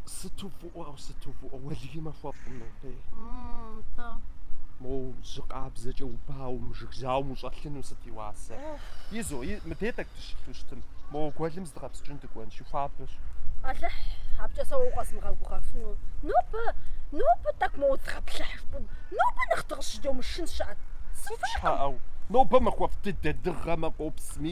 Сыту фӏыӏуэу, сыту фӏыӏуэу, уэлэхьи махуэфӏкъым нобэ. Тӏэ. Мо жьы къабзэкӏэ убауэу, мы жыг жьауэм ущӏэлъыну сыт и уасэ? Изо, и- мыбдей тӏэкӏу дыщылъу щытым. Мо гуэлым зыдгъэпскӏыну дыкӏуэн, щӏыри хуабэщ. Алыхь, абыкӏэ сэ уэ укъэзмыгъэгугъэфыну. Нобэ, нобэ тӏэкӏу моуэ зыдгъэплъыхьыж, пӏу- нобэ нэхъ дыгъ- щыдомышын щыӏэт. Сыт щхьэ ӏеу? Нобэ махуэфӏ дыдэ, дыгъэмэ, къопсми.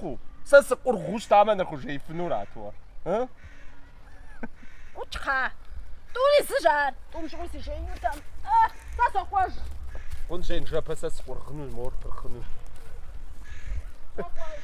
къу. Сэ сыкъургъыу щытамэ нэхъ ужеифынурат уэ, ы? Къучхъа, тӏури зыщ ар, тӏум щыгъуи си жеинутэм, ы, сэ сокӏуэж. Хъун жеин жыпӏэ сэ сыкъургъыну, мор пырхъыну. Сокӏуэж.